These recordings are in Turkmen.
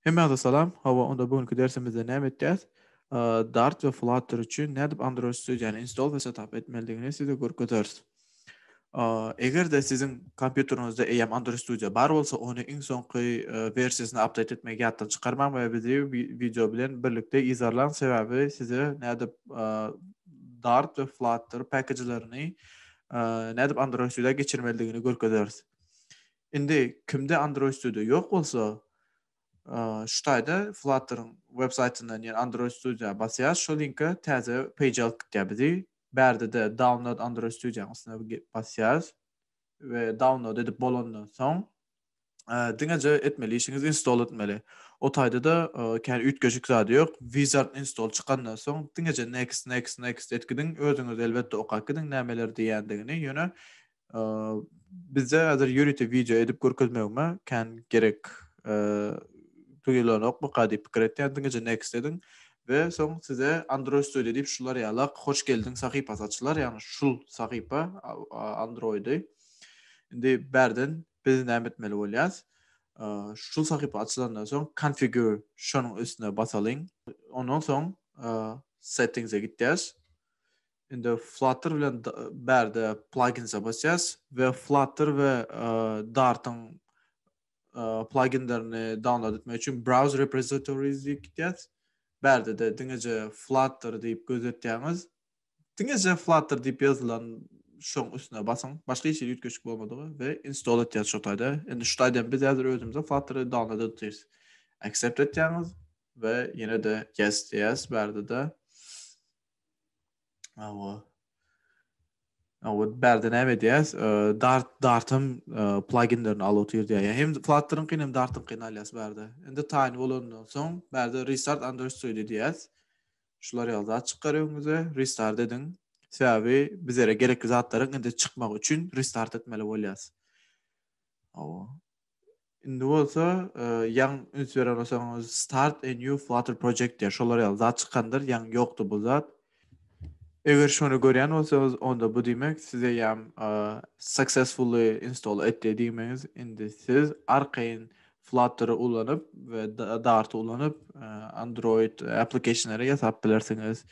Hemmäňize salam. Hawa, onda bu günki dersimizde näme etjäs? Dart we Flutter üçin nädip Android Studio-ny install we setup etmelidigini size görkezeris. Eger-de siziň kompýuteriňizde eýýäm Android Studio bar bolsa, ony iň soňky wersiýasyna update etmegi ýatdan çykarmaň we bizi wideo bilen birlikde yzarlaň, sebäbi size nädip Dart we Flutter päkejlerini nädip Android Studio-a geçirmelidigini görkezeris. Indi kimde Android Studio ýok bolsa, şu taýda Flutter-yň web saýtyndan ýene Android Studio-a basýas, şo linke täze page alyp gitýär bizi. Bärdede Download Android Studio-nyň üstüne basýas we download edip bolandan soň, diňeje etmeli işiňiz install etmeli. O taýda-da kän üýtgeşik zady ýok. Wizard install çykandan soň, diňeje next, next, next edip gidiň. Özüňiz elbetde okap gidiň nämeler diýýändigini, ýöne Bizde häzir ýörite wideo edip görkezmegime kän gerek duýulanokmyka diýip pikir etýän diňeje next ediň we soň size Android Studio diýip şular ýalak hoş geldiň sahypasy açylar ýagny şul sahypa Androidy indi bärden biz näme etmeli bolýas şul sahypa açylandan soň configure şonuň üstüne basalyň ondan soň settings e gitýäs Indi Flutter bilen bärde pluginsa basýas we Flutter we Dartyň pluginlerini download etmek üçin browse repositories diýip gitýäs. Bärde-de diňeje Flutter diýip gözetýäňiz. Diňeje Flutter diýip ýazylan şoň üstüne basyň. Başga hiç ýerde üýtgeşik bolmadygy we install etýäs şu taýda. Indi şu taýdan biz häzir özümize Flutter download edýäs. Accept etýäňiz we ýene-de yes diýýäs bärde-de. Awa. Awa bärde näme edýäs? Dart Dartym pluginlerini alyp otyr diýýär. Ýa hem Flutter-yň hem Dart-yň kyn alýas bärde. Indi taýyn bolandan soň bärde restart under studio diýýäs. Şular ýaly zat çykar öňüňize. Restart ediň. Sebäbi bizlere gerekli zatlaryň indi çykmagy üçin restart etmeli bolýas. Awa. Indi bolsa ýaň üns beren bolsaňyz start a new flutter project diýýär. Şolar ýaly zat çykandyr, ýaň ýokdy bu zat. Eger şony görýän bolsaňyz, onda bu diýmek size ýam successfully install etdi diýmegiz. Indi siz arkaýyn Flutter ulanyp we Dart ulanyp Android applicationlary ýasap bilersiňiz.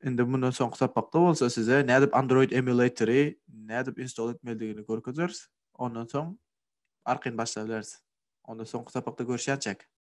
Indi mundan soňky sapakda bolsa size nädip Android emulatory nädip install etmelidigini görkezeris. Ondan soň arkaýyn başlabereris. Onda soňky sapakda görüşýänçäk.